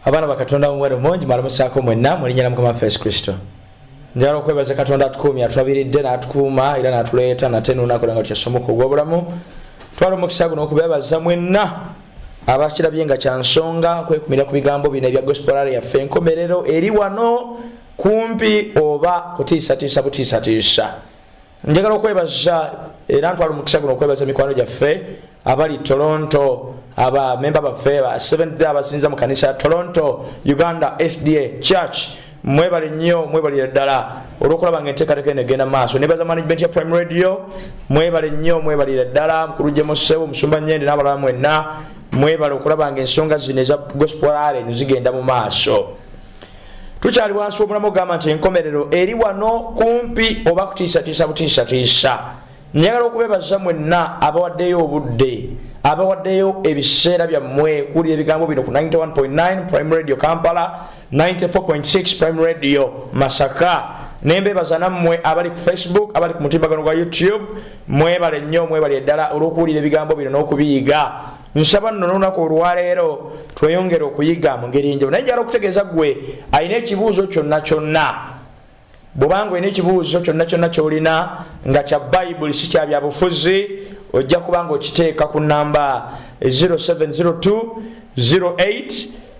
abaana bakatonda muwere mungi malamusaako mwenna mulinya na mukama waffe yesu kristo njagala okwebaza katonda atukuumye atwabiridde n'atukuuma era n'atuleeta nate nunakola nga kyasomoka ogw'obulamu twala omukisa guno okubebaza mwenna abakirabye nga kyansonga kwekumira ku bigambo bino ebya gospolare yaffe enkomerero eri wano kumpi oba kutiisatiisa butiisatiisa njagala okwebaza era ntwala omukisa guno okwebaza emikwano gyaffe abali toronto aba memba baffe ba seventh day abasinza mu kanisa ya toronto uganda sda church mwebale nnyo mwebalire ddala olwokulaba nga enteekateeka eno egenda maaso nebaza management ya prime radio mwebale nnyo mwebalire ddala mukulu gyemusewo omusumba nyende n'abalala mwenna mwebale okulaba nga ensonga zino eza gospel ale nezigenda mu maaso tukyali wansi w'omulamu ogamba nti enkomerero eri wano kumpi oba kutiisatiisa butiisatiisa njagala okubebaza mwenna abawaddeyo obudde abawaddeyo ebiseera byammwe kuwulira ebigambo bino ku 91.9 prime radio kampala 94.6 prime radio masaka nembebaza nammwe abali ku facebook abali ku mutimbagano gwa youtube mwebale nnyo mwebale eddala olw'okuwulira ebigambo bino n'okubiyiga nsaba nno nolunaku olwaleero tweyongere okuyiga mu ngeri enjawulo naye njala okutegeeza ggwe alina ekibuuzo kyonna kyonna bwobanga olina ekibuuzo kyonna kyonna kyolina nga kya bayibuli si kya byabufuzi ojja kuba nga okiteeka ku namba 0702 08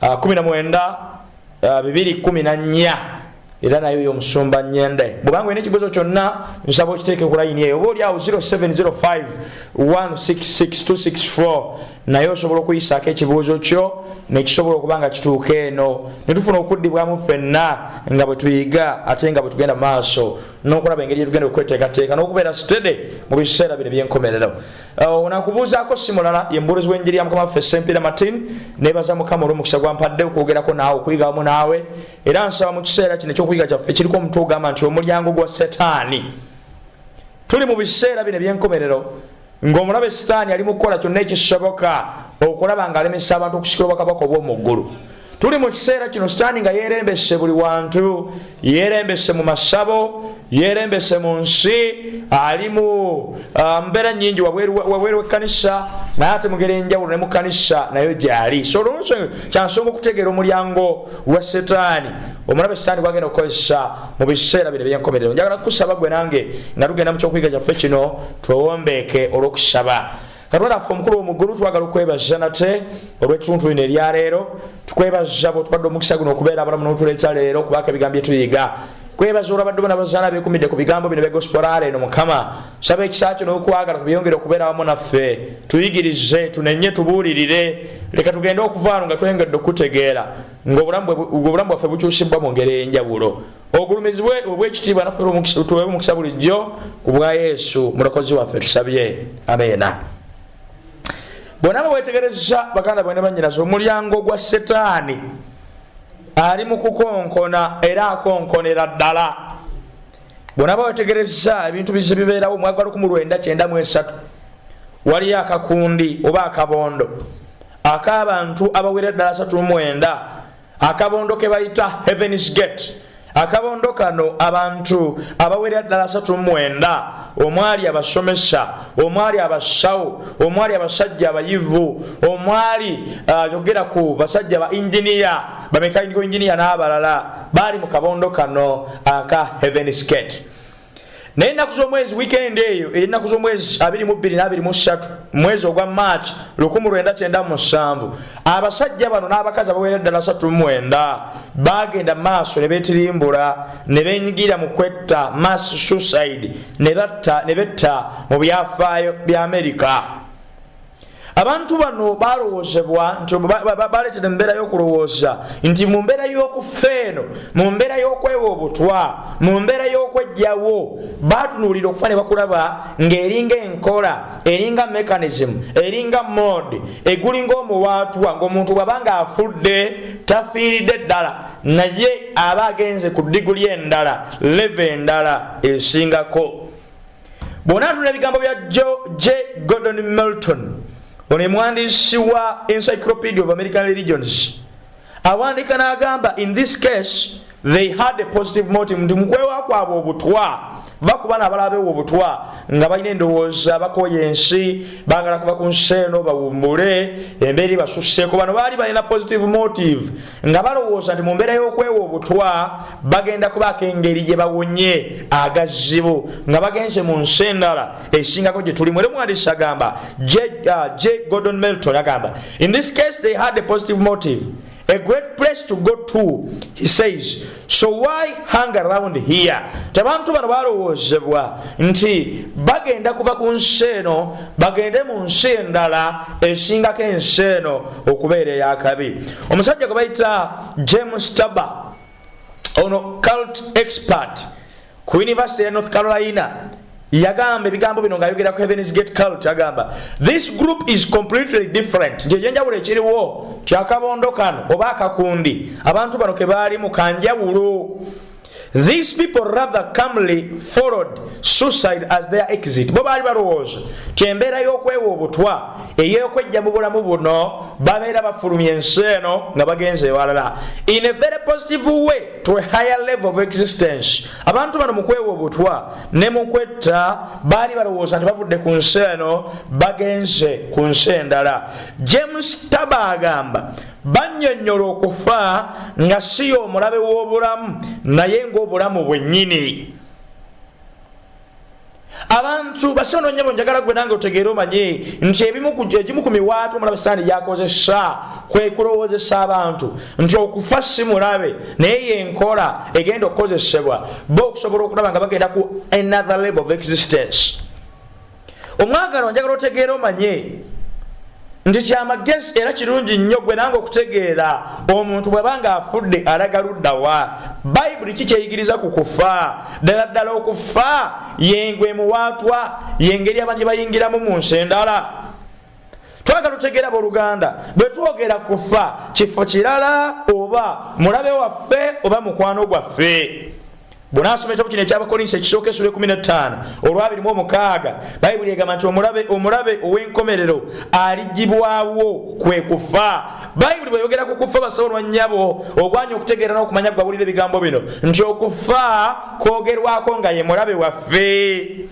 19 era naye oyo omusumba nyende bwobanga olina ekibuzo kyonna nsaba okiteeke ku layini eyo oba oli awo 0705166264 naye osobola okuyisaako ekibuuzo kyo nekisobola okuba nga kituuka eno netufuna okuddibwamu ffenna nga bwetuyiga ate nga bwetugenda maaso nokulaba engeri gyetugenda okweteekateeka nokubeera sitede mu biseera bino ebyenkomerero onakubuuzaako si mulala ye mubuulizi w'enjiri ya mukama waffe sempira martin nebaza mukama olw'omukisa gwampadde okwogerako naawe okuyiga wamu naawe era nsaba mu kiseera kino ekyokuyiga kyaffe kiriko omutwe ogamba nti omulyango gwa setaani tuli mu biseera bino eby'enkomerero ng'omulabe sitaani ali mu kukola kyonna ekisoboka okulaba ng'alemesa abantu okusikira obwakabaka obw'omu ggulu tuli mu kiseera kino sitaani nga yeerembese buli wantu yeerembese mu masabo yeerembese mu nsi ali mu ah, mbeera nyingi wabweru wekkanisa naye ate mugera enjawulo ne mukkanisa nayo gyali so olwonso kyansonga okutegeera omulyango gwa sitaani omulabe sitaani gwagenda okukozesa mu biseera bino ebyenkomerero njagala kukusaba gwe nange nga tugenda mu kyokuyiga kyaffe kino twewombeeke olw'okusaba katonda affe omukulu womuggulu twagala okwebaza nate olwettuntu lino eryaleero tukwebaza bwotwadde omukisa guno okubeera abalamu notula ekyaleero kubaka ebigambo byetuyiga kwebaza olwabadde bona bazaala bekumidde ku bigambo bino begosporaala eno mukama saba ekisa kyo n'okwagala kubyongere okubeera wamu naffe tuyigirize tunenye tubuulirire leka tugende okuvaano nga tweyongedde okutegeera ngaobulamu bwaffe bukyusibwa mu ngeri eyenjawulo obugulumizi bwe obwekitiibwa naffe tuweebwa omukisa bulijjo ku bwa yesu mulokozi waffe tusabye ameena bonna nga bwetegereza baganda bwene banyinaza omulyango gwa setaani ali mu kukonkona era akonkonera ddala bonna bawetegereza ebintu bize bibeerawo mwagala okumu lwenda kyenda mu esatu waliyo akakundi oba akabondo ak'abantu abawera ddala asatu mu mwenda akabondo ke bayita heavens gate akabondo kano abantu abawerera ddala asatu mwenda omwali abasomesa omwali abasawo omwali abasajja abayivu omwali uh, yogera uh, ku basajja ba inginiya bamekainiko inginiya n'abalala baali mu kabondo kano aka heaven skate naye ennaku z'omwezi wikendi eyo ey'ennaku z'omwezi 2223 mwezi ogwa march 1997 abasajja bano n'abakazi abawera eddala 39 baagenda maaso ne betirimbula ne benyigira mu kwetta mass suicide ne betta mu byafaayo bya amerika abantu bano balowoozebwa nti baleetera embeera y'okulowooza nti mu mbeera y'okufa eno mu mbeera y'okwewa obutwa mu mbeera y'okwejjawo batunuulira okufa ne bakulaba ng'eringa enkola eringa mechanism eringa mode egulinga omuwaatwa ng'omuntu bwaba ng'afudde tafiiridde ddala naye aba agenze ku diguli endala leve endala esingako bw'onaatula ebigambo bya j gordon melton ono emwandiisi wa encyclopedia of american religions awandiika n'agamba in this case they had a positive motive nti mukwewa kwabwe obutwa bakuba nabalabewo obutwa nga balina endowooza bakoya ensi bagala kuva ku nsi eno bawumbule embeera ebasuseeko bano baali balina positive motive nga balowooza nti mu mbeera y'okwewa obutwa bagenda kubaako engeri gye bawonye agazibu nga bagenze mu nsi endala esingako gye tulimu era omuwandiisi agamba j uh, gordon melton agamba in this case they had a positive motive a great place to go to he says so why hang around here tebantu bano balowoozebwa nti bagenda kuva ku nsi eno bagende mu nsi endala esingako ensi eno okubeera eyakabi omusajja gwe bayita james taba ono cult expert ku yunivasite ya north carolina yagamba ebigambo bino ngaayogera ku heathens gate cult agamba this group is completely different nti ekyenjawulo ekiriwo kyakabondo kano oba akakundi abantu bano ke baalimu kanjawulo these people rather comely followed suicide as their exit bo baali balowooza ti embeera y'okwewa obutwa ey'okwejja mu bulamu buno babeera bafulumya ensi eno nga bagenze ewalala in a very positive way to a higher level of existence abantu bano mukwewa obutwa ne mukwetta baali balowooza nti bavudde ku nsi eno bagenze ku nsi endala james taba agamba banyonyola okufa nga siyo omulabe w'obulamu naye ng'obulamu bwennyini abantu basono nyabo njagala gwe nange otegeere omanye nti ebimu egimu ku miwaatu omulabe saani gyakozesa kwe kulowoozesa abantu nti okufa si mulabe naye yenkola egenda okukozesebwa bo okusobola okulaba nga bagenda ku another level of existence omwagala onjagala otegeere omanye nti kyamagezi era kirungi nnyo gwe nange okutegeera omuntu bwaba nga afudde alaga luddawa bayibuli ki kyeyigiriza ku kufa ddala ddala okufa yengwe muwaatwa yengeri abantu gye bayingiramu mu nsi endala twagala otegeera boluganda bwe twogera kufa kifo kirala oba mulabe waffe oba mukwano gwaffe bw'onaasoma ekitabo kino ekyabakolinsi ekisooka esula ekumi n'ettaano olwabiri mu omukaaga bayibuli egamba nti omulabe omulabe ow'enkomerero aligibwawo kwe kufa bayibuli bweyogera ku kufa basobo lwa nnyabo ogwanya okutegeera n'okumanya gwawulira ebigambo bino nti okufa kwogerwako nga ye mulabe waffe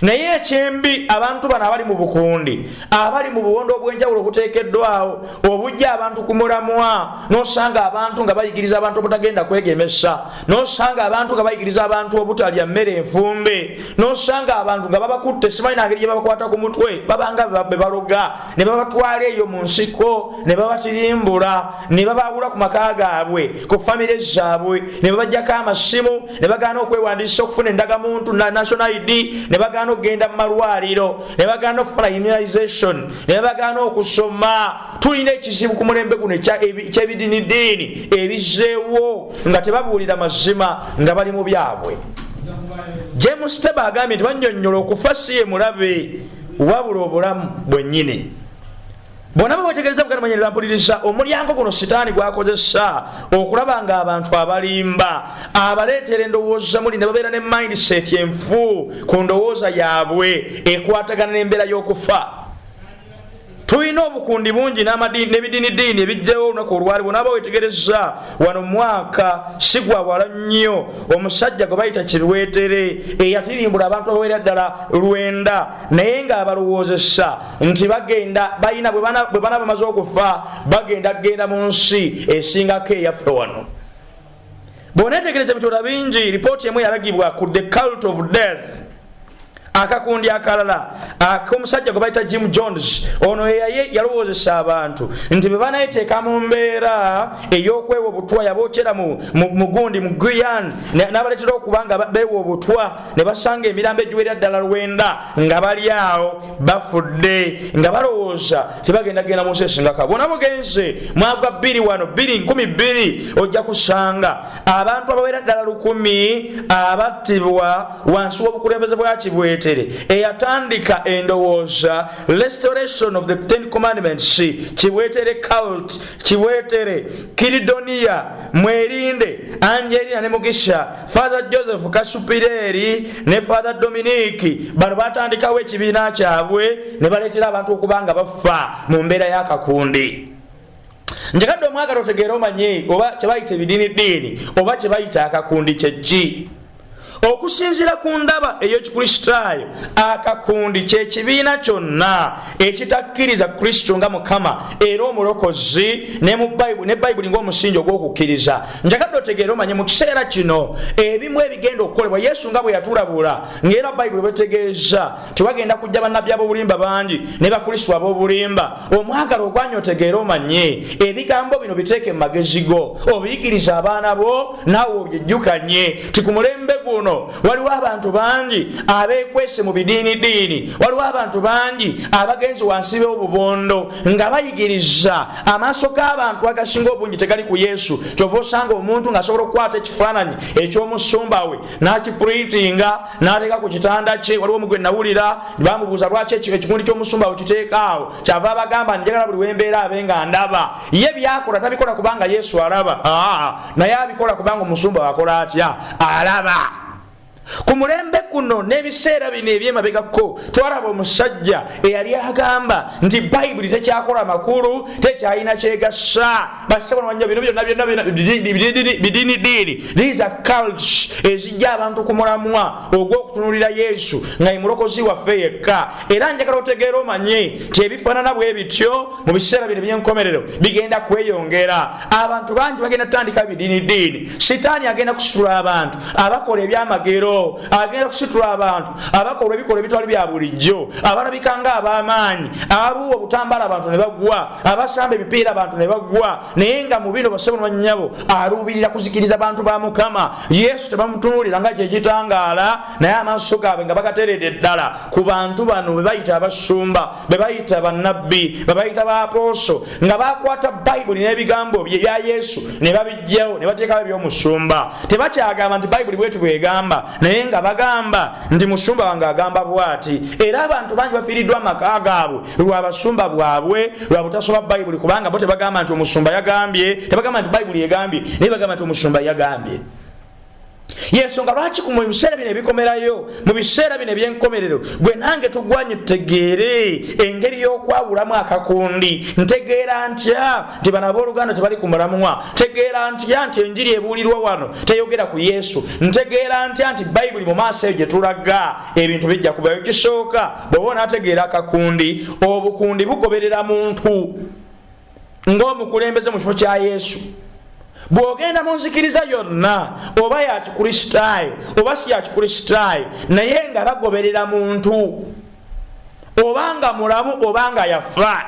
naye ekyembi abantu bano abali mu bukundi abali mu buwondo obwenjawulo obuteekeddwawo obujja abantu ku mulamwa nosanga abantu nga bayigiriza abantu obutagenda kwegemesa nosanga abantu nga bayigiriza abantu obutalya mmere enfumbe nosanga abantu nga babakutte simanyi nangeri gye babakwata ku mutwe babanga be baloga ne babatwala eyo mu nsiko ne babatirimbula ne babaawula ku maka gaabwe ku famire zaabwe ne babajjako amasimu ne bagaana okwewandiisa okufuna endagamuntu na national id ne bagaana okugenda mu malwaliro ne bagaana okufuna immunization ne bagaana okusoma tulina ekizibu ku mulembe guno kyebidinidiini ebizeewo nga tebabuulira mazima nga bali mu byabwe james teba agambye nti banyonyola okufa si ye mulabe wabula obulamu bwennyini bona bwewetegereza mukati manyereza mpuliriza omulyango guno sitaani gwakozesa okulaba nga abantu abalimba abaleetera endowooza muli ne babeera ne mindset enfu ku ndowooza yaabwe ekwatagana n'embeera y'okufa tulina obukundi bungi n'ebidiinidiini ebijjawo olunaku olwali bonaaba wetegereza wano mwaka sigwawala nnyo omusajja gwe bayita kibiweetere eyatirimbula abantu abawera ddala lwenda naye ng'abalowoozesa nti bagenda balina bwe bana bamaze okufa bagenda kugenda mu nsi esingako eyaffe wano bwonetegereza ebitonda bingi lipooti emu yalagibwa ku the cult of death akakundi akalala akomusajja gwe bayita jim jones ono eyaye yalowoozesa abantu nti bwe banayeteeka mu mbeera ey'okwewa obutwa yabokyera mu gundi mu guyan n'abaleetera okuba nga bewa obutwa ne basanga emirambo egiwerera ddala lwenda nga bali awo bafudde nga balowooza tebagenda genda mu nsi esingaka bona mugenze mwagwa bbiri wano bbiri nkumi bbiri ojja kusanga abantu abawera ddala lukumi abattibwa wansi w'obukulembeze bwa kibwetere eyatandika endowooza restoration of the ten commandments kibwetere cult kibwetere kiridoniya mwerinde angelina ne mugisha fatha joseph kasupireeri ne fatha dominiki bano batandikawo ekibiina kyabwe ne baleetera abantu okuba nga bafa mu mbeera y'akakundi njagadde omwagala otegeera omanye oba kyebayita ebidiini ddiini oba kyebayita akakundi kyekki okusinzira ku ndaba ey'ekikristaayo akakundi kyekibiina kyonna ekitakkiriza kristo nga mukama era omulokozi ne bayibuli ng'omusingi ogw'okukkiriza njagadde otegeere omanye mu kiseera kino ebimu ebigenda okukolebwa yesu nga bwe yatulabula ngaera bayibuli bwetegeeza tewagenda kujja bannabbi ab'obulimba bangi ne bakristu ab'obulimba omwagala ogwanya otegeere omanye ebigambo bino biteeke mu magezi go obiyigiriza abaana bo naawe obyejjukanye ti ku mulembe guno waliwo abantu bangi abeekwese mu bidiinidiini waliwo abantu bangi abagenzi wansi b'obubondo nga bayigiriza amaaso g'abantu agasinga obungi tegali ku yesu kyova osanga omuntu ng'asobola okukwata ekifaananyi eky'omusumba we n'akiprintinga n'ateeka ku kitanda kye waliwo omugwe nawulira bamubuuza lwaki ekikundi ky'omusumba we kiteekaawo kyava abagamba njagala buli wembeera abe nga ndaba ye byakola tabikola kubanga yesu alaba naye abikola kubanga omusumba wakola atya alaba ku mulembe guno n'ebiseera bino ebyemabegako twalaba omusajja eyali agamba nti bayibuli tekyakola makulu tekyalina kyegasa basebonawanya bino byonna byonna bidini diini these are cults ezijja abantu ku mulamwa ogw'okutunulira yesu nga ye mulokozi waffe yekka era njagala otegeera omanye nti ebifaanana bwe bityo mu biseera bino eby'enkomerero bigenda kweyongera abantu bangi bagenda tutandika bidiini diini sitaani agenda kusitula abantu abakola ebyamagero agenda kusitula abantu abakola ebikola ebitwali bya bulijjo abalabika nga ab'amaanyi ababuwa obutambala abantu ne bagwa abasamba ebipiira abantu ne bagwa naye nga mu bino basebo nbanyabo aluubirira kuzikiriza bantu ba mukama yesu tebamutunuulira nga kyekitangaala naye amaaso gaabwe nga bagateredde ddala ku bantu bano bebayita abasumba bebayita bannabbi bebayita bapooso nga bakwata bayibuli n'ebigambo bye bya yesu ne babijjawo ne bateekawo ebyomusumba tebakyagamba nti bayibuli bwetu bwegamba naye nga bagamba nti musumba wange agamba bwati era abantu bangi bafiiriddwa amaka gaabwe lwa basumba bwabwe lwa butasoba bayibuli kubanga bo tebagamba nti omusumba yagambye tebagamba nti bayibuli egambye naye bagamba nti omusumba yagambye yensonga lwaki mu biseera bino ebikomerayo mu biseera bino ebyenkomerero gwe nange tugwanye tutegeere engeri y'okwawulamu akakundi ntegeera ntya nti bano abooluganda tebali ku mulamwa ntegeera ntya nti enjiri ebuulirwa wano teyogera ku yesu ntegeera ntya nti bayibuli mu maaso eyo gye tulaga ebintu bijja kuvayo kisooka bw'oba onaategeera akakundi obukundi bugoberera muntu ng'omukulembeze mu kifo kya yesu bw'ogenda mu nzikiriza yonna oba ya kikristaayo oba si ya kikristaayo naye nga bagoberera muntu oba nga mulamu oba nga yafa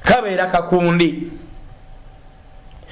kabeera kakundi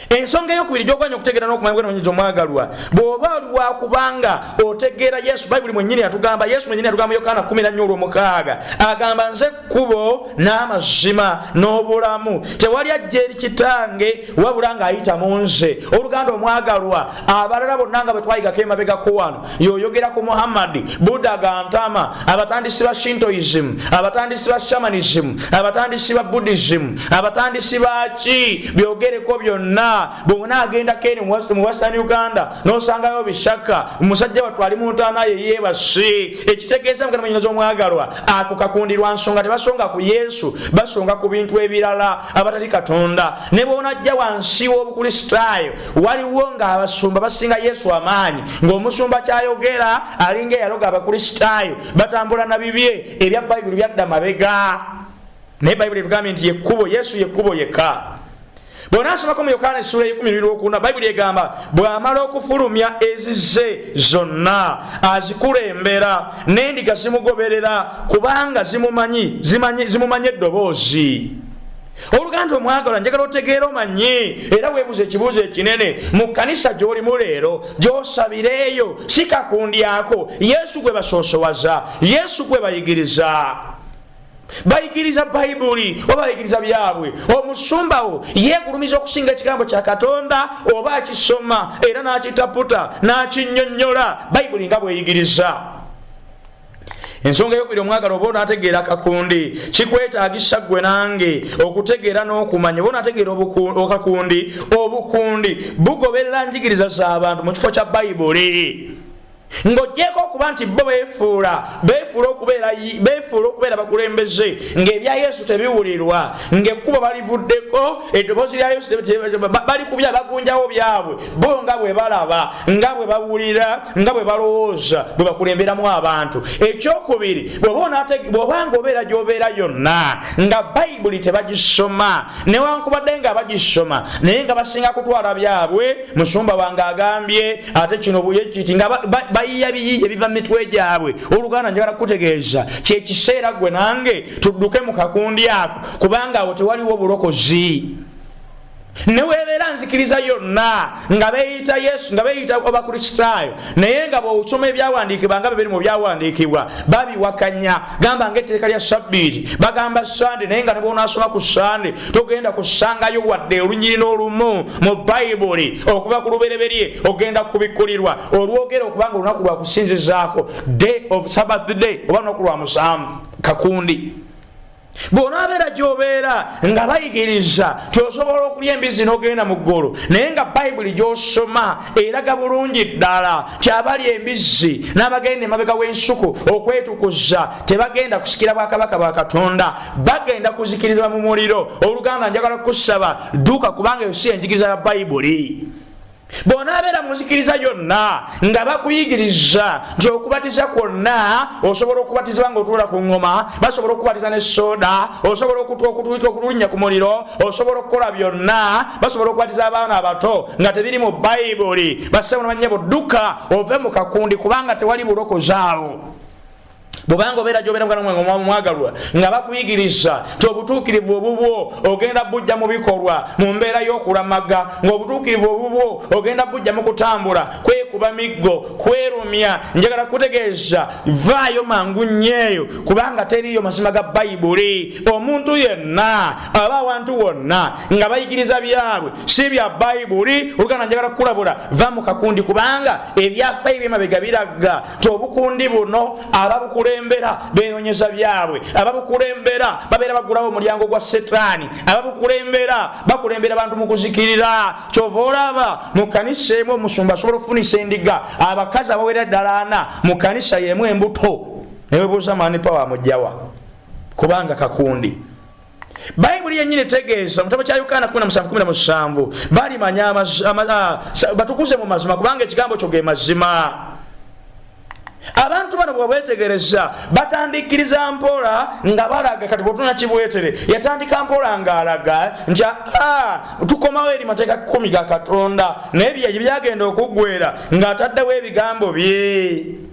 ensonga eyokubiri gyogwanya okutegeera nokumanya bwenonyinza omwagalwa bwoba oli wakubanga otegeera yesu bayibuli mwenyini atugamba yesu mwenyini atugamba yokaana 14 olwomukaaga agamba nze kkubo n'amazima n'obulamu tewali ajja eri kitange wabula ng'ayita mu nze oluganda omwagalwa abalala bonna nga bwe twayigako emabegako wano yoyogera ku muhammadi buda gantama abatandisi ba shintoism abatandisi ba shamanism abatandisi ba buddhism abatandisi baki byogereko byonna bwona agendako eni mu western uganda nosangayo bishaka musajja watu ali muntanaye yebasi ekitegeeza mukana manyinaza omwagalwa ako kakundirwa nsonga tebasonga ku yesu basonga ku bintu ebirala abatali katonda ne bwonajja wansi w'obukristaayo waliwo ng'abasumba basinga yesu amaanyi ng'omusumba kyayogera alinga eyaloga abakristaayo batambula na bibye ebya bayibuli byadda mabega naye bayibuli etugambye nti yekkubo yesu yekkubo yekka bwonasomako mu yokaana essula ekumi bibiri okuna bayibuli egamba bw'amala okufulumya ezize zonna azikulembera n'endiga zimugoberera kubanga zimumanyi zimumanyi eddoboozi oluganda omwagalwa njagala otegeera omanyi era weebuza ekibuuzo ekinene mu kkanisa gy'olimu leero gy'osabireeyo si kakundyako yesu gwe basoosowaza yesu gwe bayigiriza bayigiriza bayibuli oba bayigiriza byabwe omusumbawo yegulumiza okusinga ekigambo kya katonda oba akisoma era n'akitaputa n'akinyonnyola bayibuli nga bweyigiriza ensonga eyokubiri omwagala oba onategeera kakundi kikwetagisa gwe nange okutegeera n'okumanya oba onategeera kakundi obukundi bugoberera njigiriza z'abantu mu kifo kya bayibuli ng'ogyeko okuba nti bo beefuula beefuula okubeera bakulembeze ng'ebya yesu tebiwulirwa ng'ekkubo balivuddeko eddoboozi lya yesu bali kubya bagunjawo byabwe bo nga bwe balaba nga bwe bawulira nga bwe balowooza bwe bakulemberamu abantu ekyokubiri bwobanga obeera gyobeera yonna nga bayibuli tebagisoma newankubadde nga bagisoma naye nga basinga kutwala byabwe musumba wange agambye ate kino buyekiti nga bayiya biyiya ebiva mu mitwe gyabwe oluganda njagala kukutegeeza kyekiseera gwe nange tudduke mu kakundi ako kubanga awo tewaliwo bulokozi newebeera nzikiriza yonna nga beyita yesu nga beyita abakristaayo naye nga bwosoma ebyawandiikibwa nga bebiri mu byawandiikibwa babiwakanya gamba nga etteeka lya sabbiiti bagamba sande naye nga nebwonasoma ku sande togenda kusangayo wadde olunyiri n'olumu mu bayibuli okuva ku lubereberye ogenda kubikkulirwa olwogera okuba nga olunaku lwakusinzizaako day of sabbath day oba lunaku lwa musanvu kakundi bwonaabeera gyobeera nga bayigiriza nti osobola okulya embizi n'ogenda mu ggulu naye nga bayibuli gyosoma eraga bulungi ddala nti abali embizi n'abagenda emabega w'ensuku okwetukuza tebagenda kusikira bwakabaka bwa katonda bagenda kuzikirizibwa mu muliro oluganda njagala kukusaba dduka kubanga eyo si enjigiriza ya bayibuli bw'onaabeera mu nzikiriza yonna nga bakuyigiriza nti okubatiza kwonna osobola okubatizibwa nga otuula ku ŋŋoma basobola okukubatiza ne soda osobola okutulinnya ku muliro osobola okukola byonna basobola okubatiza abaana abato nga tebiri mu bayibuli basebunabannyabo dduka ove mu kakundi kubanga tewali bulokozi awo bwobanga obeera gyobeera muganda mwange omwamu mwagalwa nga bakuyigiriza nti obutuukirivu obubwo ogenda bujja mu bikolwa mu mbeera y'okulamaga ng'obutuukirivu obubwo ogenda bujja mu kutambula kwekuba miggo kwerumya njagala kutegeeza vaayo mangu nnyeeyo kubanga teriiyo mazima ga bayibuli omuntu yenna aba awantu wonna nga bayigiriza byabwe si bya bayibuli oluganda njagala kukulabula va mu kakundi kubanga ebyafayo byemabega biragga ti obukundi buno ababukulembera benonyeza byabwe ababukulembera babeera bagulawo omulyango gwa setaani ababukulembera bakulembera bantu mu kuzikirira kyova olaba mu kanisa emu omusumba asobola okufunisa endiga abakazi abawera ddala ana mu kanisa yemu embuto newebuuza mani pawa amugjawa kubanga kakundi bayibuli yenyini etegeeza mutabo kya yokaana 17 balimanya batukuze mu mazima kubanga ekigambo kyo ge mazima abantu bano bwebwetegereza batandikiriza mpola nga balaga kati bwotuna kibwetere yatandika mpola nga alaga nti aa tukomawo eri mateeka kumi ga katonda naye byeyagenda okuggwera ng'ataddewo ebigambo bye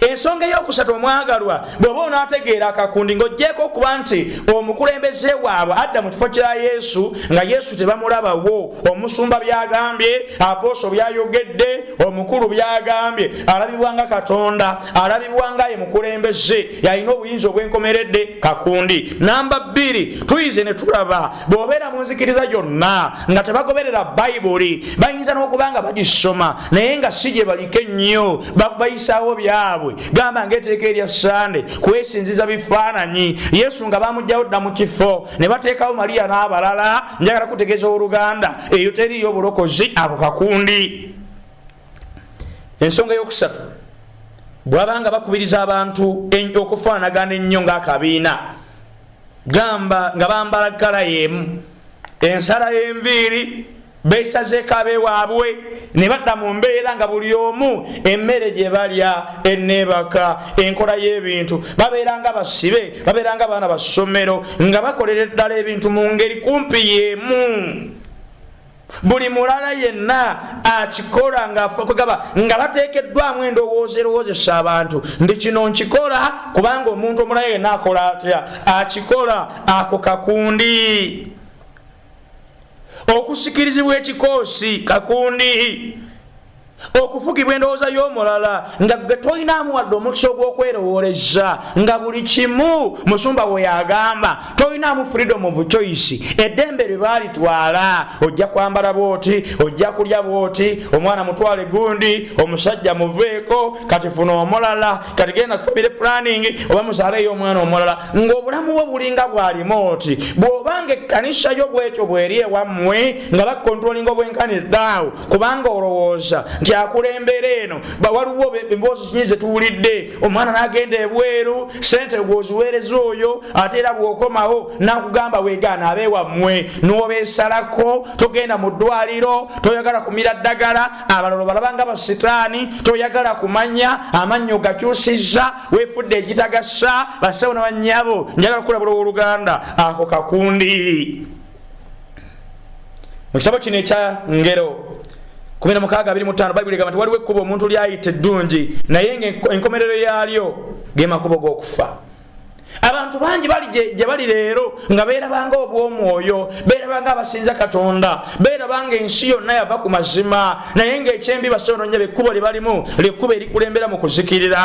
ensonga eyokusatu omwagalwa bw'oba onaategeera akakundi ng'ogyeko okuba nti omukulembeze waabwe adda mu kifo kya yesu nga yesu tebamulabawo omusumba byagambye apooso byayogedde omukulu byagambye alabibwa nga katonda alabibwa nga ye mukulembeze yalina obuyinza obwenkomeredde kakundi namba bbiri tuyize ne tulaba bw'obeera mu nzikiriza gyonna nga tebagoberera bayibuli bayinza n'okuba nga bagisoma naye nga si gye baliko ennyo bayisaawo byabwe gamba ngaeteeka erya sande kwesinziza bifaananyi yesu nga bamugjawo dda mu kifo ne bateekawo maliya n'abalala njagala kutegeeza oluganda eyo teriyo obulokozi ako kakundi ensonga eyokusatu bwabanga bakubiriza abantu okufaanagana ennyo ng'akabiina gamba nga bambala kala yemu ensala y'enviiri beesazeeko abewaabwe ne badda mu mbeera nga buli omu emmere gye balya enneebaka enkola y'ebintu babeera nga basibe babeera nga baana ba ssomero nga bakolera eddala ebintu mu ngeri kumpi y'emu buli mulala yenna akikola ngakwegaba nga bateekeddwamu endowooza erowoozesa abantu ndi kino nkikola kubanga omuntu omulala yenna akola atya akikola ako kakundi okusikirizibwa ekikoosi kakundi okufugibwa endowooza y'omulala nga gwe tolinaamu wadde omukisa ogw'okwerowooleza nga buli kimu musumba we yagamba tolinaamu freedom of choice eddembe lye baalitwala ojja kwambala bwoti ojja kulya bwoti omwana mutwale gundi omusajja muveeko kati funa omulala kati genda kufamire planning oba muzaaleeyo omwana omulala ng'obulamu bwo bulinga bwalimu oti bw'obanga ekkanisa yo bwetyo bweri ewammwe nga bakontrolinga obwenkanidde awo kubanga olowooza nti akulembera eno bawaliwo emboozi kinyi zetuwulidde omwana nagenda ebweru sente gwoziweereza oyo ate era bwokomawo nakugamba wegaana abe wammwe nobesalako togenda mu ddwaliro toyagala kumira ddagala abalolo balabanga basitaani toyagala kumanya amannyo gakyusiza wefudde ekitagasa basewo nabanyabo njagala kulabula owoluganda ako kakundi mu kitabo kino ekya ngero 1625 bayibuli egamba nti waliwo ekkubo omuntu lyayita eddungi naye ngaenkomerero yaalyo ge makubo g'okufa abantu bangi bali gye bali leero nga beerabanga obw'omwoyo beerabanga abasinza katonda beerabanga ensi yonna yava ku mazima naye ng'ekyembi basobononya bekkubo lye balimu lyekkubo erikulembera mu kuzikirira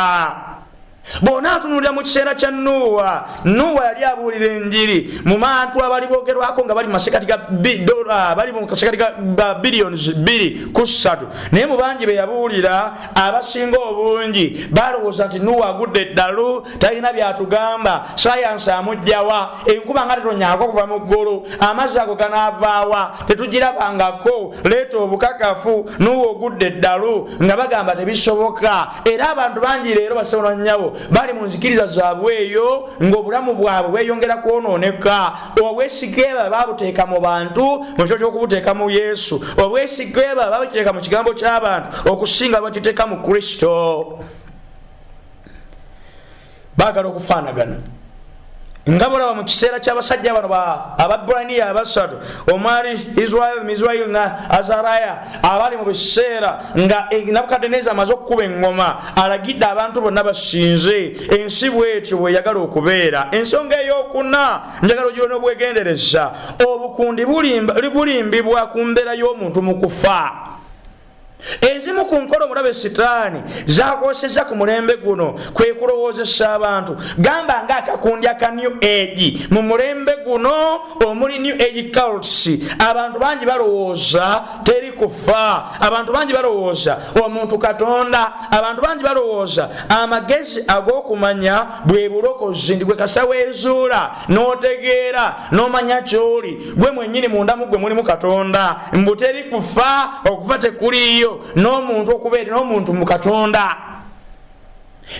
bw'onaatunulira mu kiseera kya nuuwa nuuwa yali abuulira enjiri mu bantu abali boogerwako nga bali mumasekati ga dola bali mu kasekati ga billions bbiri ku ssatu naye mu bangi be yabuulira abasinga obungi balowooza nti nuuwa agudde eddalu talina byatugamba sayansi amugjawa enkuba nga tetonyako okuva mu ggulu amazzi ago ganaavaawa tetugirabangako leeta obukakafu nuuwa ogudde eddalu nga bagamba tebisoboka era abantu bangi leero basobola nyabo bali mu nzikiriza zaabwe eyo ng'obulamu bwabwe bweyongera kwonooneka obwesikeeba babuteeka mu bantu mu kifo ky'okubuteeka mu yesu obwesikeeba babukiteeka mu kigambo ky'abantu okusinga bakiteeka mu kristo bagala okufaanagana nga bolaba mu kiseera ky'abasajja bano ababraniya abasatu omwali israel misrail na azaraya abali mu biseera nga e, nabukadeneza amaze okukuba eŋŋoma alagidde abantu bonna basinze ensi bwetyo bweyagala okubeera ensonga eyokuna njagala ogira n'obwegendereza obukundi bulimbibwa ku mbeera y'omuntu mu kufa ezimu ku nkola omulabe sitaani zakwoseza ku mulembe guno kwe kulowoozesa abantu gamba nga akakundi aka new age mu mulembe guno omuli new age cults abantu bangi balowooza teri kufa abantu bangi balowooza omuntu katonda abantu bangi balowooza amagezi ag'okumanya bwe bulokozi ndi gwe kasaweezuula n'otegeera n'omanya ky'oli gwe mwennyini mundamu gwe mulimu katonda mbu teri kufa okufa tekuliiyo n'omuntu okubeera n'omuntu mu katonda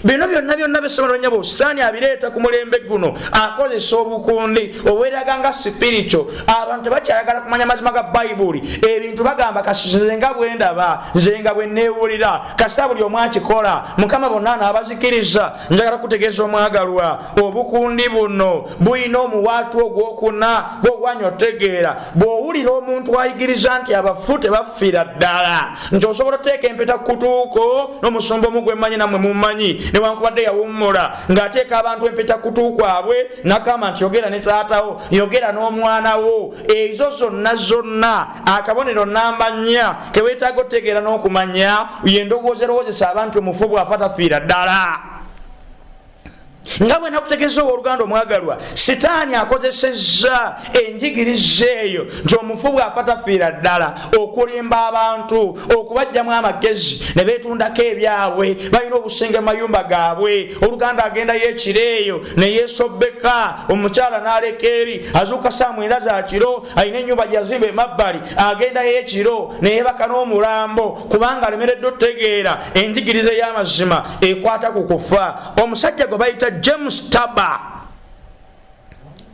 bino byonna byonna bisobola nya busitaani abireeta ku mulembe guno akozesa obukundi obweraga nga sipirito abantu tebakyayagala kumanya mazima ga bayibuli ebintu bagamba kasize nga bwendaba nze nga bwe neewulira kasita buli omu akikola mukama bonna anaabazikiriza njagala kutegeeza omwagalwa obukundi buno bulina omuwaatu ogwokuna gwogwanya otegeera bw'owulira omuntu ayigiriza nti abafu tebaffira ddala nti osobola oteeka empeta kutuuko n'omusumba omu gwemanyi namwe mumanyi newankubadde yawummula ng'ateeka abantu empeta kutuukwabwe nagamba nti yogera ne taatawo yogera n'omwana wo ezo zonna zonna akabonero namba nnya keweetaaga otegeera n'okumanya yendowooza erowoozesa abantu omufu bwafa tafiira ddala nga bwe nakutegeza owooluganda omwagalwa sitaani akozesezza enjigiriza eyo nti omufu bw'afa tafiira ddala okulimba abantu okubajjamu amagezi ne beetundako ebyabwe balina obusenge mu mayumba gaabwe oluganda agendayo ekiro eyo ne yeesobbeka omukyala n'aleka eri azuuka saa mwenda za kiro alina enyumba gyeyazimba emabbali agendayo ekiro neyebaka n'omulambo kubanga alemeredde otegeera enjigiriza ey'amazima ekwata ku kufa omusajja gwe bayita james taba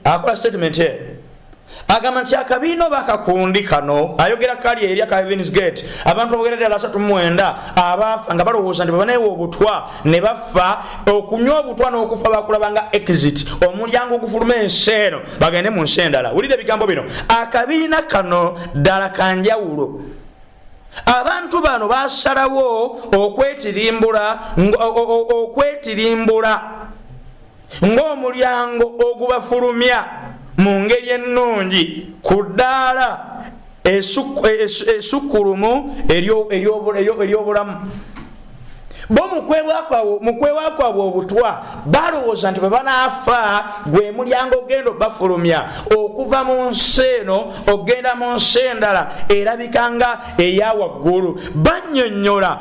akola statement e agamba nti akabiina oba akakundi kano ayogera kali eri akavens gate abantu abogera ddala asatu mumwenda abaafa nga balowooza nti bebaneewa obutwa ne bafa okunywa obutwa n'okufa bakulaba nga exit omulyango ogufuluma ensi eno bagende mu nsi endala wulira ebigambo bino akabiina kano ddala kanjawulo abantu bano basalawo okwetirimbula okwetirimbula ng'omulyango ogubafulumya mu ngeri ennungi ku ddaala esukkulumu ery'obulamu bo mukwewa kwabwe obutwa balowooza nti bwe banaafa gwe mulyango ogenda obafulumya okuva mu nsi eno okugenda mu nsi endala erabika nga eya waggulu bannyonnyola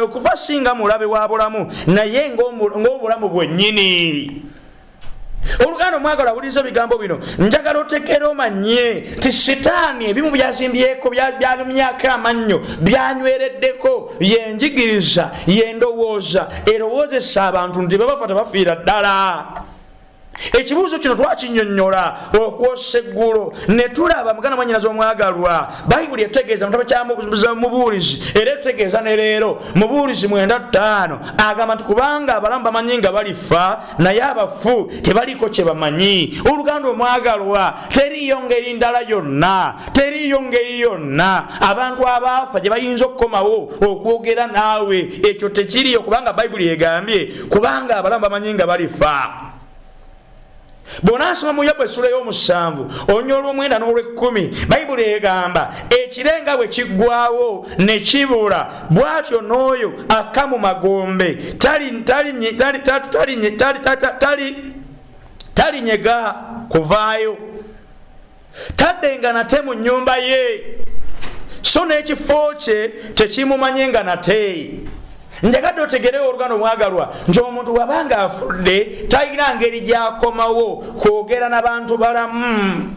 okufa singa mulabe wa bulamu naye ng'obulamu bwennyini oluganda omwagala awuliriza ebigambo bino njagala otegeera omanye nti sitaani ebimu byazimbyeko byalumyako amannyo byanywereddeko yenjigiriza yendowooza erowoozesa abantu nti bebafa tebafiira ddala ekibuuzo kino twakinyonyola okwosa eggulo ne tulaba muganda mwanyinazi omwagalwa bayibuli etegeeza mutabo kyamuza mubuulizi era etegeeza ne leero mubuulizi mwenda ttaano agamba nti kubanga abalamu bamanyi nga balifa naye abafu tebaliiko kye bamanyi oluganda omwagalwa teriiyo ngeri ndala yonna teriiyo ngeri yonna abantu abaafa gye bayinza okukomawo okwogera naawe ekyo tekiriyo kubanga bayibuli egambye kubanga abalamu bamanyi nga balifa bw'onaasoma mu yobu essula y'omusanvu onya olw'omwenda n'olw'ekkumi bayibuli egamba ekirenga bwe kiggwawo ne kibula bwatyo n'oyo akka mu magombe talinyega kuvaayo taddenga nate mu nnyumba ye so n'ekifo kye tekimumanye nga nate njagadde otegerewo olugano mwagalwa nti omuntu wabanga afudde talina ngeri gyakomawo kwogera na bantu balamu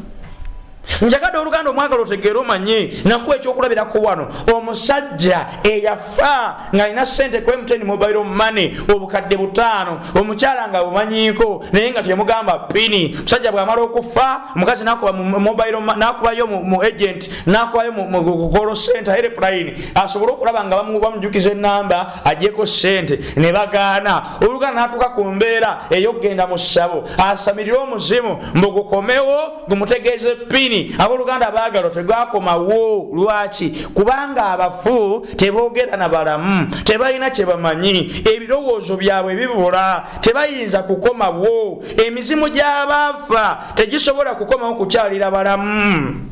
njagade oluganda omwagala otegeere omanye nakuwa ekyokulabirako wano omusajja eyafa ng'alina sente ku mtn mobile money obukadde butaano omukyala nga bumanyiko naye nga temugamba pini musajja bwamala okufa omukazi nakubayo mu agent nakubayo mukolo sente aerepulayini asobole okulaba nga bamujukiza enamba ajeko sente ne bagaana oluganda natuuka ku mbeera eyokugenda mu ssabo asamirire omuzimu mbugukomewo gumutegeeze pini aboluganda baagalo tegwakomawo lwaki kubanga abafu teboogera na balamu tebalina kye bamanyi ebirowoozo byabwe bibula tebayinza kukomawo emizimu gy'abaafa tegisobola kukomawo kukyalira balamu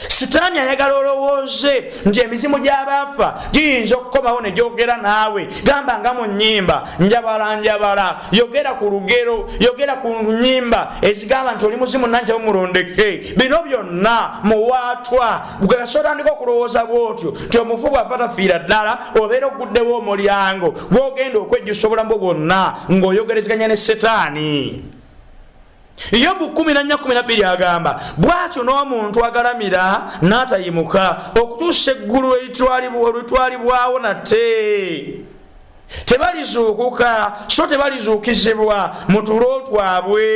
sitaani ayagala olowooze nti emizimu gy'abaafa giyinza okukomawo ne gyogera naawe gamba nga mu nnyimba njabala njabala yogera ku lugero yogera ku nnyimba ezigamba nti oli muzimu nanjabo mulondeke bino byonna muwaatwa gweso otandika okulowooza bwotyo nti omufu bw'afa tafiira ddala obeera oguddewo omulyango gwogenda okwejjusa obulamu bwo bwonna ng'oyogerezeganya ne sitaani yobu 14 agamba bwatyo n'omuntu agalamira n'atayimuka okutuusa eggulu olitwalibwawo nate tebalizuukuka so tebalizuukizibwa mu tulo twabwe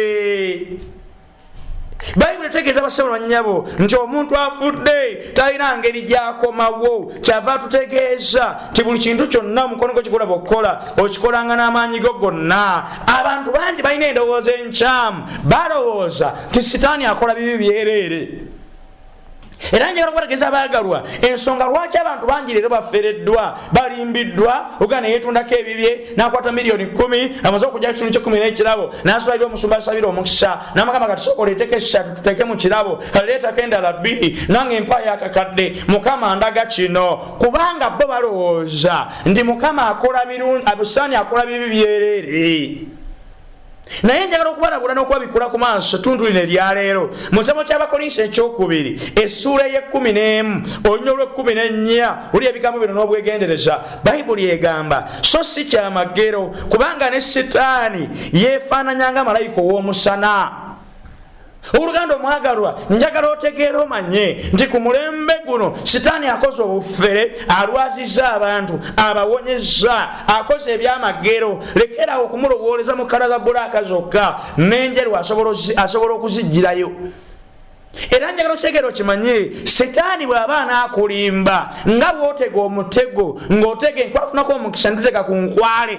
bayibuli etegeeza basebo banyabo nti omuntu afudde talina ngeri gyakomawo kyava atutegeeza nti buli kintu kyonna omukono gwe kigulaba okukola okikolanga n'amaanyi go gonna abantu bangi balina endowooza enkyamu balowooza nti sitaani akola bibi byereere era njagala okubategeeza baagalwa ensonga lwaki abantu bangi leero bafereddwa balimbiddwa oga neyetundako ebibye nakwata miliyoni kumi amaze okugya kitundu kyekumi nekirabo nasulaira omusumba asabira omukisa namagamba kati sokola eteka essatu tuteeke mu kirabo kale leetako endala bbiri nange empa yakakadde mukama ndaga kino kubanga bo balowooza nti mukama akola birungi abusaani akola bibi byereere naye njagala okubalabula n'okuba bikula ku maaso tuntu lino eryaleero mu kitabo ky'abakolinsi ekyokubiri essuula ey'ekkumi n'emu olunya olw'ekkumi n'ennya oli ebigambo bino n'obwegendereza bayibuli egamba so si kyamagero kubanga ne sitaani yeefaananyanga malayika ow'omusana oluganda omwagalwa njagala otegeera omanye nti ku mulembe guno sitaani akoze obufere alwaziza abantu abawonyeza akoze ebyamagero lekerawo okumulowooleza mu kala za bulaaka zokka n'enjeru asobola okuzijjirayo era njagala okitegere okimanye setaani bw'aba anaakulimba nga bw'otega omutego ng'otega enkwafunako omukisa nituteka ku nkwale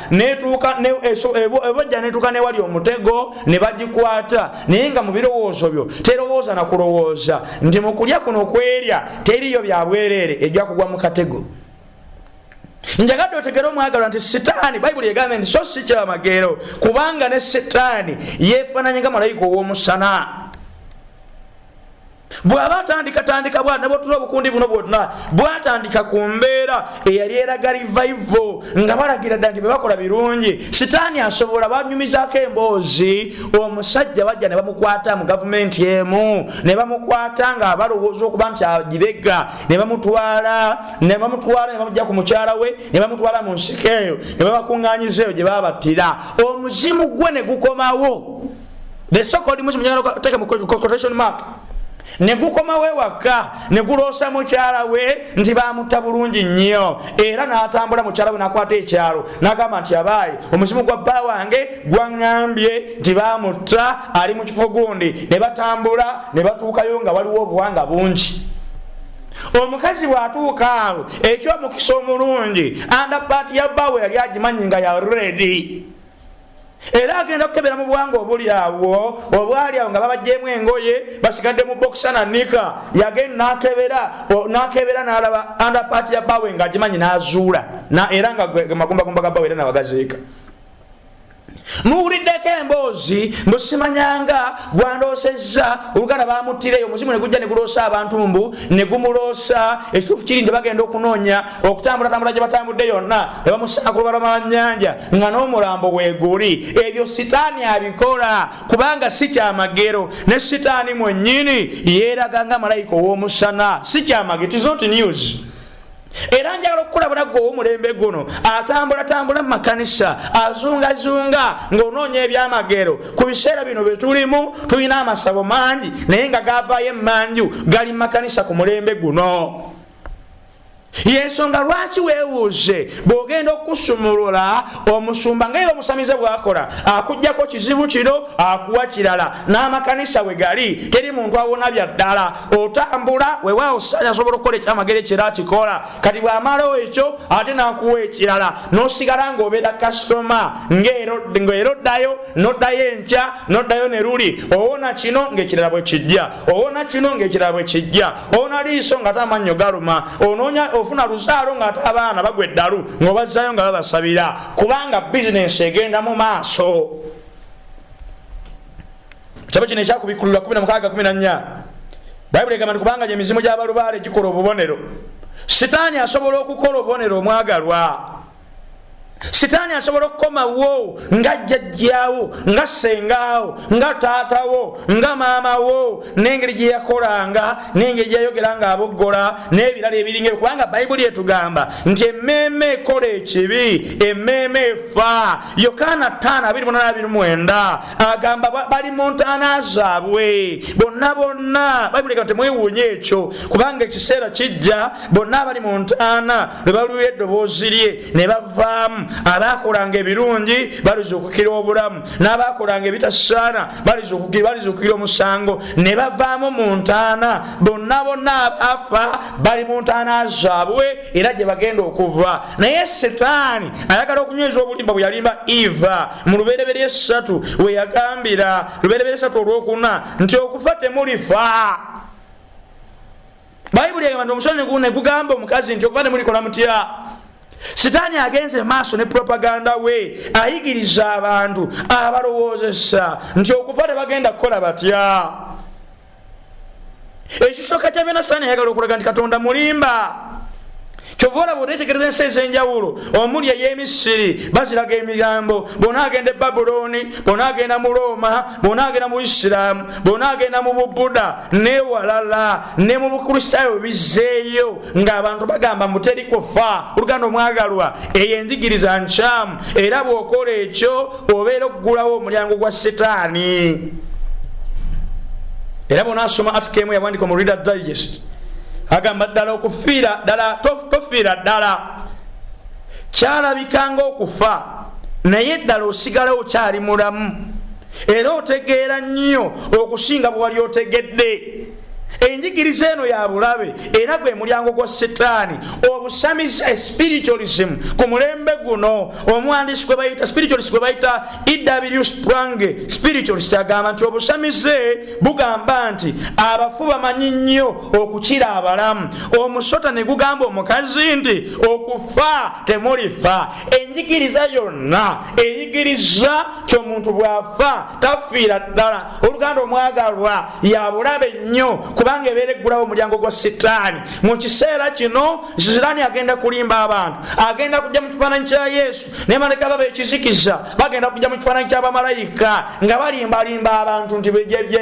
netuuka ebojja eh, netuuka newali omutego ne bagikwata naye nga mu birowoozo byo terowooza na kulowooza nti mu kulya kuno kwerya teriyo bya bwereere ejja kugwa mu katego njagadde otegere omwagalwa nti sitaani bayibuli egambye nti so si kyamageero kubanga ne sitaani yeefaananye nga malayika ow'omusana bw'aba atandikatandika bwa nebwotula obukundi buno bwonna bwatandika ku mbeera eyali eraga rivaivo nga balagira dda nti bebakola birungi sitaani asobola banyumizaako emboozi omusajja bajja ne bamukwata mu gavumenti emu ne bamukwata nga balowooza okuba nti agibega ne bamutwala ne bamutwala ne bamujja ku mukyala we ne bamutwala mu nsika eyo ne babakuŋŋanyiza eyo gye babattira omuzimu gwe ne gukomawo the so called muslim nyalo kuteka quotation mark ne gukomawo ewaka ne guloosa mukyala we nti bamutta bulungi nnyo era n'atambula mukyala we n'akwata ekyalo n'agamba nti abaayi omuzimu gwa bba wange gwaŋŋambye nti bamutta ali mu kifo gundi ne batambula ne batuukayo nga waliwo obuwanga bungi omukazi bw'atuuka awo eky'omukisa omulungi andapaati ya bba we yali agimanyi nga ya redi era agenda kukebera mu bwanga obuli awo obwali awo nga babajjemu engoye basigadde mu bokisa na nika yagenda nakebera nakebera nalaba andapati ya bawe nga agimanyi nazuula era nga magumbagumba ga bawe era nawagaziika muwuliddeko emboozi mbu simanyanga gwandoosezza oluganda bamuttireyo omuzimu ne gujja ne guloosa abantu mbu ne gumuloosa ekituufu kiri nti bagenda okunoonya okutambulatambula gye batambudde yonna ne bamusaa ku lubalama lwa nnyanja nga n'omulambo weeguli ebyo sitaani abikola kubanga si kyamagero ne sitaani mwennyini yeeraga nga malayika ow'omusana si kyamagero tizonti news era njagala okukulabula gwe owomulembe guno atambulatambula mu makanisa azungazunga ng'onoonya ebyamagero ku biseera bino bye tulimu tulina amasabo mangi naye nga gavaayo emmanju gali mu makanisa ku mulembe guno yensonga lwaki webuuze bwogenda okusumulula omusumba nga era obusamize bwakola akujjako kizibu kino akuwa kirala n'amakanisa we gali teri muntu awona bya ddala otambula wewaawo saanya asobola okukola ekyamagere kira akikola kati bw'amalawo ekyo ate n'akuwa ekirala n'osigala ng'obeera kasitoma ng'era oddayo noddayo enkya noddayo ne luli owona kino ng'ekirala bwe kijja owona kino ng'ekirala bwe kijja owona liiso ng'ate amannyo galuma onoonya ofuna luzaalo ng'ate abaana bagwa eddalu ng'obazzaayo nga babasabira kubanga bizinensi egenda mu maaso kitabo kino ekyakubikkulula 1614 bayibuli egamba nti kubanga gyemizimu gy'abalubaale gikola obubonero sitaani asobola okukola obubonero omwagalwa sitaani asobola okukomawo nga jjajjaawo nga sengaawo nga taatawo nga maamawo n'engeri gye yakolanga n'engeri gyeyayogera nga aboggola n'ebirala ebiringa kubanga bayibuli etugamba nti emmeeme ekola ekibi emmeeme efa yokaana 5229 agamba bali mu ntaana zaabwe bonna bonna bayibuli ega nti mwewuunya ekyo kubanga ekiseera kijja bonna abali mu ntaana lwe baluwa eddoboozi lye ne bavaamu abaakolanga ebirungi balizuukukira obulamu n'abaakolanga ebitasaana balizuukukira omusango ne bavaamu mu ntaana bonna bonna abaafa bali mu ntaana zaabwe era gye bagenda okuva naye sitaani ayagala okunyweza obulimba bwe yalimba eva mu lubereberye essatu we yagambira lubereberye essatu olwokuna nti okufa temulifa bayibuli egamba nti omusonyi guno negugamba omukazi nti okuba nemulikola mutya sitaani agenze maaso ne propaganda we ayigiriza abantu abalowoozesa nti okufa tebagenda kukola batya ekisooka kyabyona sitaani ayagala okulaga nti katonda mulimba kyova olaba onetegereza ensi ez'enjawulo omuli ey'emisiri baziraga emigambo bona agenda e babulooni bona agenda mu rooma bona agenda mu isiraamu bona agenda mu bubuda newalala ne mu bukristaayo bizzeeyo ng'abantu bagamba muteri kufa oluganda omwagalwa eyo enjigiriza nkyamu era bw'okola ekyo obeera okugulawo omulyango gwa sitaani era bona asoma atukemu yawandika mu reader digest agamba ddala okufiira ddala tofiira ddala kyalabika ngaokufa naye ddala osigalawo kyali mulamu era otegeera nnyo okusinga bwe wali otegedde enjigiriza eno ya bulabe era gwe mulyango gwa sitaani obusamizi eh, spiritualism ku mulembe guno omwandisi gwe bayita spiritualist gwe bayita ew sprange spiritualist agamba nti obusamize bugamba nti abafu bamanyi nnyo okukira abalamu omusota ne gugamba omukazi nti okufa temulifa enjigiriza yonna eyigiriza kyomuntu bw'afa tafiira ddala oluganda omwagalwa yabulabe nnyo kubanga ebeera eggulawo omulyango gwa sitaani mu kiseera kino sitaani agenda kulimba abantu agenda kujja mu kifaananyi kya yesu ne maleka baba ekizikiza bagenda kujja mu kifaananyi ky'abamalayika nga balimbalimba abantu nti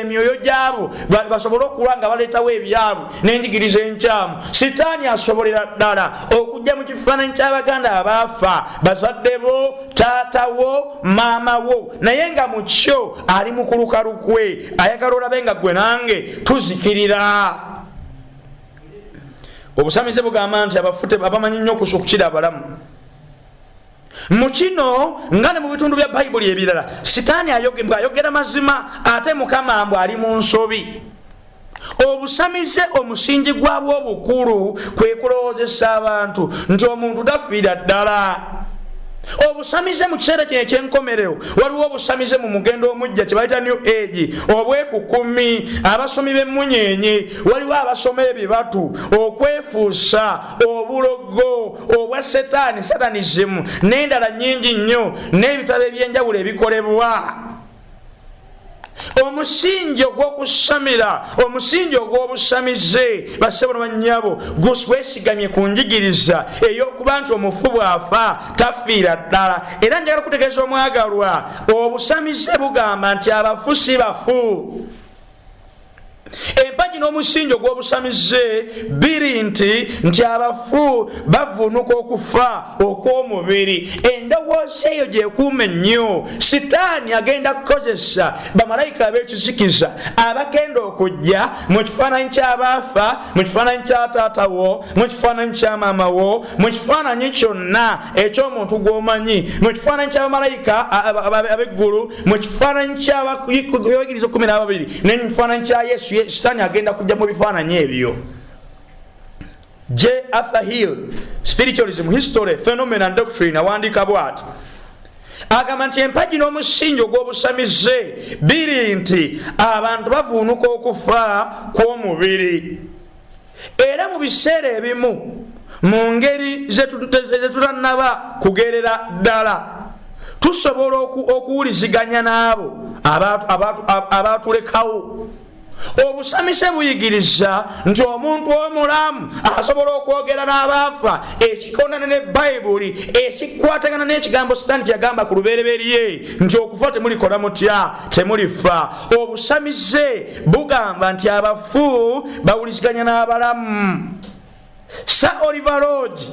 emyoyo gyabo basobole okuwa nga baleetawo ebyabwe n'enjigiriza enkyamu sitaani asobolera ddala okujja mu kifaananyi ky'abaganda abaafa bazadde bo taata wo maama wo naye nga mu kyo ali mu kuluka lukwe ayagala olabe nga ggwe nange tuzikirira obusamize bugamba nti abafu abamanyi nnyo okusa okukira abalamu mu kino nga ne mu bitundu bya bayibuli ebirala sitaani ayogera mazima ate mukama mbu ali mu nsobi obusamize omusingi gwabwo obukulu kwe kulowoozesa abantu nti omuntu tafiira ddala obusamize mu kiseera kino ekyenkomerero waliwo obusamize mu mugendo omujja kyebayita new age obwekukumi abasomi b'emmunyeenye waliwo abasoma ebibatu okwefuusa obulogo obwa setaani satanizimu n'endala nyingi nnyo n'ebitabo eby'enjawulo ebikolebwa omusingi ogw'okusamira omusingi ogw'obusamize basebo ne bannyabo gwesigamye ku njigiriza ey'okuba nti omufu bw'afa tafiira ddala era njagala okutegeeza omwagalwa obusamize bugamba nti abafu si bafu empagi n'omusingi ogw'obusamize biri nti nti abafu bavuunuka okufa okw'omubiri endowooza eyo gyekuuma ennyo sitaani agenda kukozesa bamalayika ab'ekizikiza abagenda okujja mu kifaananyi ky'abaafa mu kifaananyi kya taata wo mu kifaananyi kya maama wo mu kifaananyi kyonna eky'omuntu gw'omanyi mu kifaananyi ky'abamalayika ab'eggulu mu kifaananyi kyabawigiriza kumi n'ababiri naye mu kifaananyi kya yesu sitaani agenda kujja mu bifaananyi ebyo j arthur hill spiritualism history phenomenon doctrine awandiika bwati agamba nti empagi n'omusingi ogw'obusamize biri nti abantu bavuunuka okufa kw'omubiri era mu biseera ebimu mu ngeri zetutanaba kugerera ddala tusobola okuwuliziganya n'abo abaatulekawo obusamise buyigiriza nti omuntu omulamu asobola okwogera n'abaafa ekikonana ne bayibuli ekikwatagana n'ekigambo sitaani kyeyagamba ku lubereberye nti okufa temulikola mutya temulifa obusamize bugamba nti abafu abafu bawuliziganya n'abalamu sa oliver lodge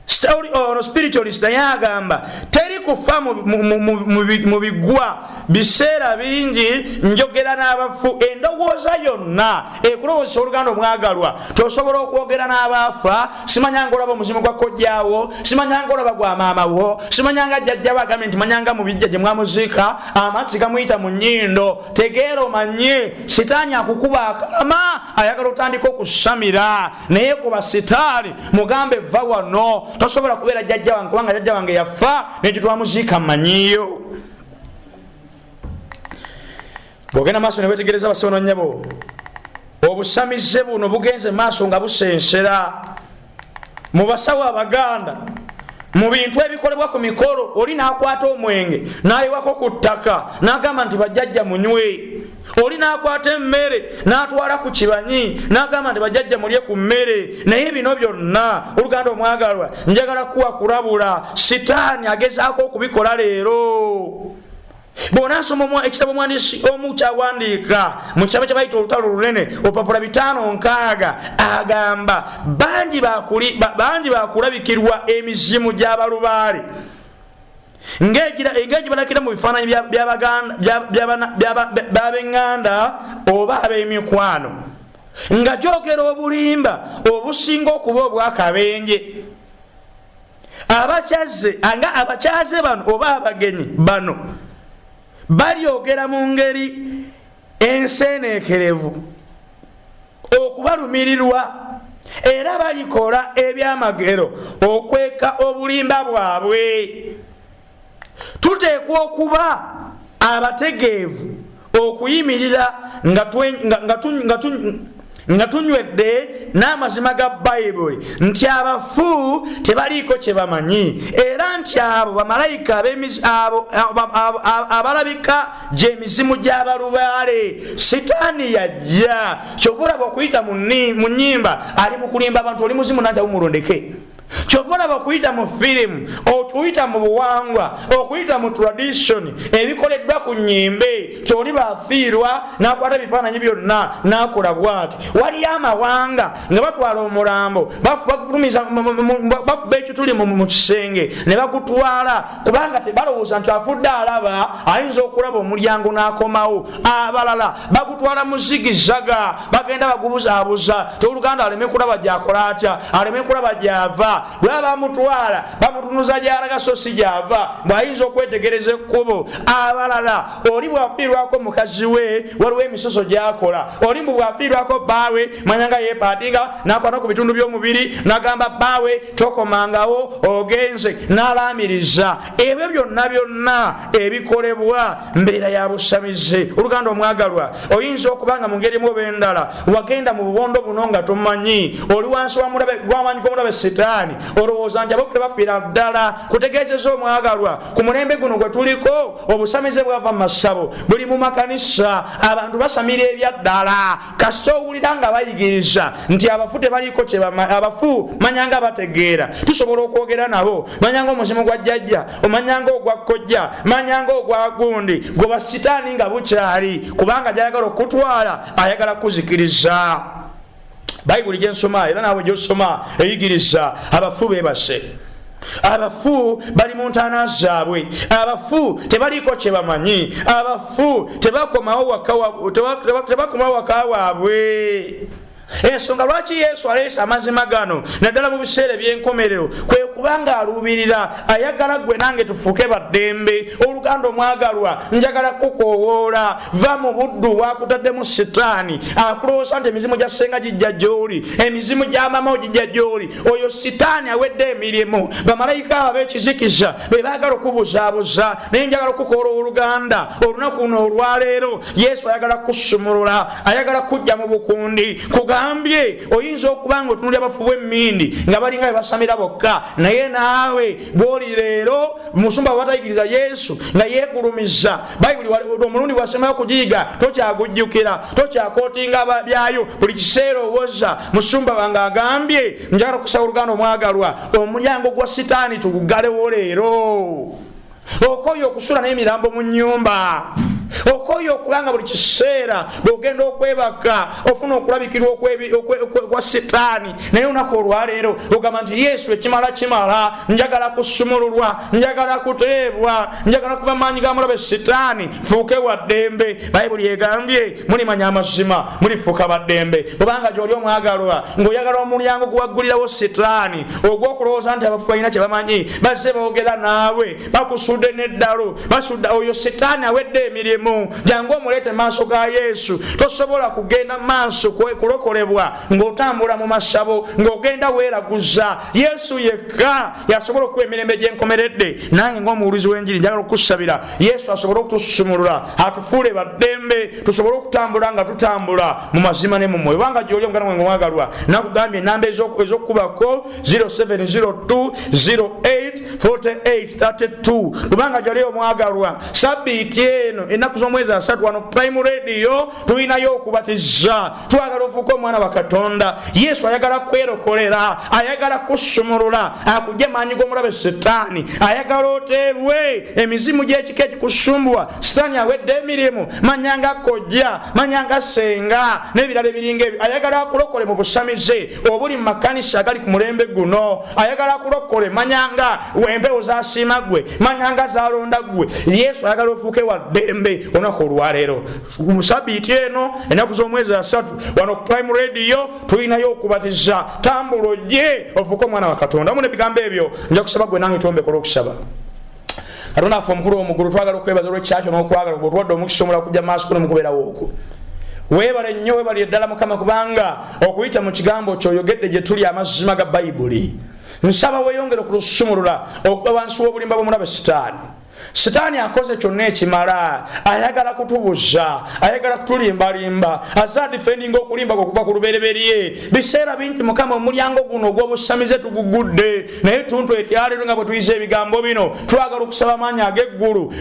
story ono spiritualist naye agamba teri kufa mu bigwa biseera bingi njogera n'abafu endowooza yonna ekulowozesa oluganda omwagalwa tosobola okwogera n'abaafa simanyanga olaba omuzimu gwa kojjaawo simanyanga olaba gwa maamawo simanyanga jjajjawo agambye nti manyanga mu bijja gye mwamuziika amazzi gamuyita mu nnyindo tegeera omanye sitaani akukuba akama ayagala otandika okusamira naye kuba sitaani mugambe va wano tosobola kubeera jajja wange kubanga jajja wange yafa nekyo twamuziika manyiyo bwogenda maaso newetegereza basono nyabo obusamize buno bugenze maaso nga busensera mu basawo abaganda mu bintu ebikolebwa ku mikolo oli nakwata omwenge nayiwako ku ttaka nagamba nti bajjajja munywe oli nakwata emmere natwala ku kibanyi nagamba nti bajjajja mulye ku mmere naye bino byonna oluganda omwagalwa njagala kuwa kulabula sitaani agezaako okubikola leero bw'onaasoma ekitabo omwandiisi omu kyawandiika mu kitabo kye bayita olutalo olunene olupapula bitaano nkaaga agamba bangi bakulabikirwa emizimu gy'abalubaale ng'egibalakira mu bifaananyi by'abenganda oba ab'emikwano nga gyogera obulimba obusinga okuba obwakabenje abakyaze anga abakyaze bano oba abagenyi bano balyogera mu ngeri enseeneekerevu okubalumirirwa era balikola ebyamagero okweka obulimba bwabwe tuteekwa okuba abategeevu okuyimirira nga tunywedde n'amazima ga bayibuli nti abafu tebaliiko kye bamanyi era nti abo bamalayika abalabika gy'emizimu gy'abalubaale sitaani yajja kyovulaba okuyita mu nnyimba ali mu kulimba abantu oli muzimu nanti awumulondeke kyova olaba okuyita mu firimu okuyita mu buwangwa okuyita mu tradition ebikoleddwa ku nyimbe kyoli bafiirwa nakwata ebifaananyi byonna nakola bwati waliyo amawanga nga batwala omulambo bakuba ekituli mu kisenge ne bagutwala kubanga tebalowooza nti afudde alaba ayinza okulaba omulyango n'akomawo abalala bagutwala mu zigizzaga bagenda bagubuzaabuza toluganda aleme kulaba gyakola atya aleme kulaba gyava bwe baba bamutwala bamutunuza gyalaga so si gyava bw'ayinza okwetegereza ekkubo abalala oli bwafiirwako mukazi we waliwo emisoso gyakola oli mbu bwafiirwako bbaawe manyanga yepaadinga nakwata ku bitundu by'omubiri nagamba bbaawe tokomangawo ogenze nalaamiriza ebyo byonna byonna ebikolebwa mbeera ya busamize oluganda omwagalwa oyinza okuba nga mu ngeri mu obendala wagenda mu bubondo buno nga tomanyi oli wansi gwamaanyi gw'omulabe sitaani olowooza nti abokute bafiira ddala kutegeezeza omwagalwa ku mulembe guno gwe tuliko obusamize bwava mu masabo buli mu makanisa abantu basamira ebyaddala kasita owulira nga bayigiriza nti abafu tebaliiko abafu manyanga bategeera tusobola okwogera nabo manyanga omuzimu gwa jjajja omanyanga ogwa kkojja manyanga ogwa gundi gwe basitaani nga bukyali kubanga gyayagala okutwala ayagala kuzikiriza bayibuli gyensoma era naawe gyosoma eyigiriza abafu bebase abafu bali mu ntaana zaabwe abafu tebaliiko kye bamanyi abafu tebakomawo waka waabwe ensonga lwaki yesu aleese amazima gano naddala mu biseera ebyenkomerero kwe kubanga aluubirira ayagala gwe nange tufuuke baddembe oluganda omwagalwa njagala kukowoola va mu buddu bwakutaddemu sitaani akulowooza nti emizimu gya senga gijja gyoli emizimu gya mama ogijja gyoli oyo sitaani awedde emirimu bamalayika abo abekizikiza be baagala okubuzaabuza naye njagala okukola oluganda olunaku luno olwaleero yesu ayagala kusumulula ayagala kujja mu bukundi kugambye oyinza okuba nga otunuli abafu bwemmindi nga balinga bebasamira bokka naye naawe bwoli leero musumba abatayigiriza yesu nga yegulumiza bayibuli omulundi bwasembayo kugiyiga tokyagujjukira tokyakotinga byayo buli kiseera owoza musumba wange agambye njagala okusaba oluganda omwagalwa omulyango gwa sitaani tugugalewo leero okoyo okusula n'emirambo mu nyumba okoyo okubanga buli kiseera bwogenda okwebaka ofuna okulabikirwa okwa sitaani naye olunaku olwaleero ogamba nti yesu ekimala kimala njagala kusumululwa njagala kuteebwa njagala kuva maanyi ga mulabe sitaani fuuke wa ddembe bayibuli egambye mulimanya amazima mulifuuka baddembe kubanga gyoli omwagalwa ng'oyagala omulyango guwaggulirawo sitaani ogw'okulowooza nti abafu balina kye bamanyi bazze boogera naawe bakusudde neddalo basudda oyo sitaani awedde emirimu jangu omuleete maaso ga yesu tosobola kugenda maaso kulokolebwa ng'otambula mu masabo ng'ogenda weeraguza yesu yekka yasobola okuwa emirembe gyenkomeredde nange ng'omuwulizi w'enjiri njagala okukusabira yesu asobole okutusumulula atufuule baddembe tusobole okutambula nga tutambula mu mazima ne mumwoyo obanga gyoli omugana mwe ngomwagalwa nakugambye enamba ez'okukubako 0702084832 kubanga jali omwagalwa sabiiti eno ennaku z'omwezi asatu wano prime radio tulinayo okubatiza twagala ofuuke omwana wa katonda yesu ayagala kwerokolera ayagala kusumulula akugye maanyi g'omulabe sitaani ayagala oteebwe emizimu gy'ekika egikusumbuwa sitaani awedde emirimu manyanga kojja manyanga senga n'ebirala ebiringa ebyo ayagala akulokole mu busamize obuli mu makanisa agali ku mulembe guno ayagala kulokole manyanga wempewo zasiima gwe manyanga zalonda gwe yesu ayagala ofuuke wa ddembe olunaku olwaleero mu sabiiti eno enaku z'omwezi asatu wano ku prime radio tulinayo okubatiza tambula ojje ofuuke omwana wa katonda mu nebigambo ebyo nja kusaba gwe nange twombekola okusaba katonda affe omukulu omugulu twagala okwebaza olwekyakyo nokwagala gwe otuwadde omukisa omula kujja maaso kuno mukubeerawo okwo webale nnyo webali eddala mukama kubanga okuyita mu kigambo kyoyogedde gye tuli amazima ga bayibuli nsaba weyongere okulusumulula okuba wansi w'obulimba bw'omulabe sitaani sitaani akoze kyonna ekimala ayagala kutubuza ayagala kutulimbalimba aza difendinga okulimba kwe okuva ku lubereberye biseera bingi mukama omulyango guno ogw'obusamize tugugudde naye ttuntu eryaleero nga bwe tuyiza ebigambo bino twagala okusaba amaanyi ag'eggulu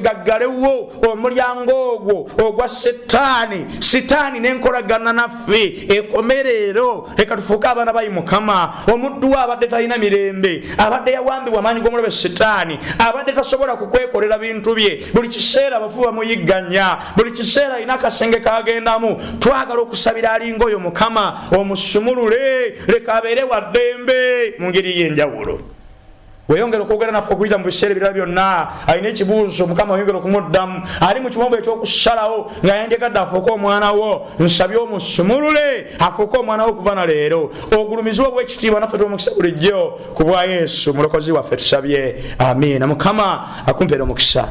gaggalewo omulyango ogwo ogwa setaani sitaani n'enkolagana naffe ekomereero leka tufuuke abaana bayi mukama omuddu we abadde talina mirembe abadde yawambibwa amaanyi g'omulabe sitaani abadde tasobola kukwekolera bintu bye buli kiseera abafu bamuyigganya buli kiseera alina akasenge kagendamu twagala okusabira alinga oyo mukama omusumulule leka abeere wa ddembe mu ngeri y'enjawulo weyongera okwogera naffe okuyita mu biseera ebirala byonna alina ekibuuzo mukama weyongera okumuddamu ali mu kiwombo ekyokusalawo nga yandegadde afuuke omwana wo nsabye omusumulule afuuke omwana wo okuva na leero ogulumizibwa obwekitiibwa naffe tumukisa bulijjo ku bwa yesu mulokozi waffe tusabye amiina mukama akumpeera omukisa